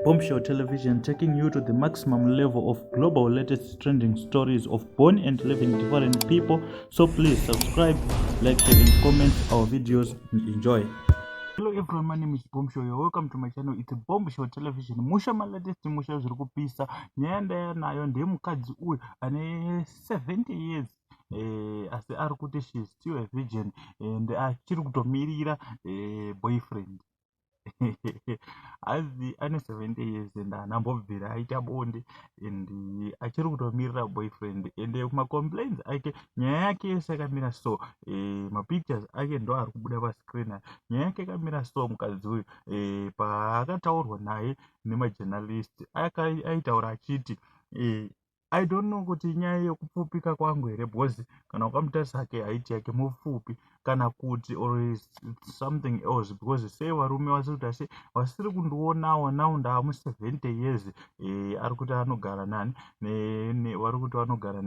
Bombshell Television taking you to the maximum level of global latest trending stories of born and living different people. So please subscribe, like, share, and comment our videos and enjoy. Hello everyone, my name is Bombshell. You're welcome to my channel. It's Bombshell Television. Musha my latest musha zviri kupisa. Nyaya ndaya nayo ndeye mukadzi uyu ane 70 years eh, asi ari kuti she is still a virgin and achiri kutomirira eh, boyfriend. hazi ane 70 years and haana mbobvira aita bonde and achiri kutomirira boyfriend and macomplains ake nyaya yake yese yakamira so e, mapictures ake ndo ari kubuda pascreen ayo nyaya yake yakamira so mukadzi uyu e, paakataurwa naye nemajournalist aitaura achiti e, i don't know kuti inyaya yekupfupika kwangu here because kana ukamutarisa ake height yake mupfupi kana kuti or something else because sei varume vasiri kuti asi vasiri kundionawo now ndaamu 70 years e, ari kuti anogara nani vari kuti vanogara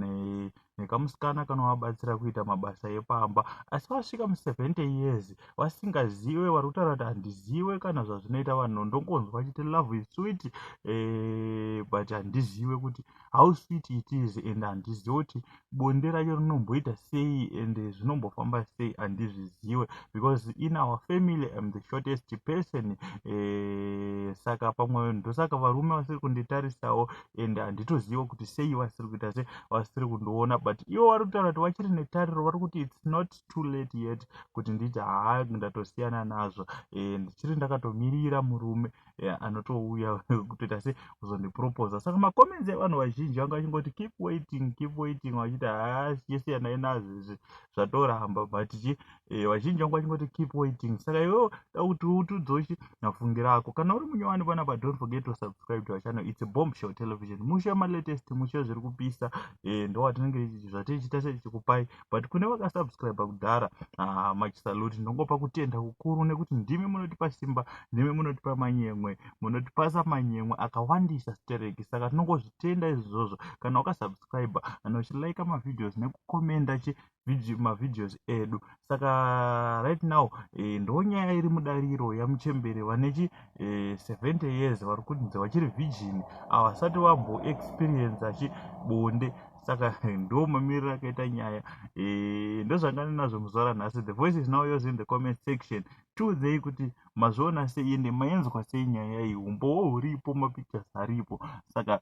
nekamusikana kanovabatsira kuita mabasa epamba asi vasvika mu 70 years vasingazive vari kutaura kuti handizive kana zvazvinoita vanhu ndongonzwa chiti love is sweet eh, but handizive kuti how sweet it is and handizive kuti bonde racho rinomboita sei and zvinombofamba sei handizvizive because in our family am the shortest person eh, saka pamwe ndosaka varume vasiri kunditarisawo and handitozive kuti sei vasiri kuita se vasiri kundiona but ivo vari kutaura kuti vachiri netariro vari kuti its not too late yet kuti nditi haa ndatosiyana nazvo e, ndichiri ndakatomirira murume e, anotouya kutoita se kuzondiproposa saka macomments evanhu vazhinji vanga vachingoti keep waiting keep waiting vachiti haa chisiyanai nazvo izvi zvatoramba but chi e, vazhinji vanga vachingoti keep waiting saka iwewo da kuti utudzochi nafungira ako kana uri munyowani panapa don't forget to subscribe to our channel it's a bomb show television mushe malatest mushe zviri kupisa e, ndowatinenge zvatichita sechikupai but kune vakasubscribe kudhara ah, machisaluti ndongopa kutenda kukuru nekuti ndimi munotipa simba ndimi munotipa manyemwe munotipasa manyemwe akawandisa stereki saka tinongozvitenda izvozvo kana wakasubscribe kana uchilaika mavideos nekukomenda chi video mavideos edu saka right now eh, ndo nyaya iri mudariro yamuchembere vane chi eh, 70 years vari kunzi vachiri virgin havasati vamboexperiensa chi bonde saka ndo mamiriro akaita nyaya eh, ndozvanga ndinazvo muzuva ranhasi the voice is now yours in the comment section tiudzei kuti mazviona sei ende maenzwa sei nyaya iyi umbowo huripo mapictures aripo saka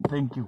thank you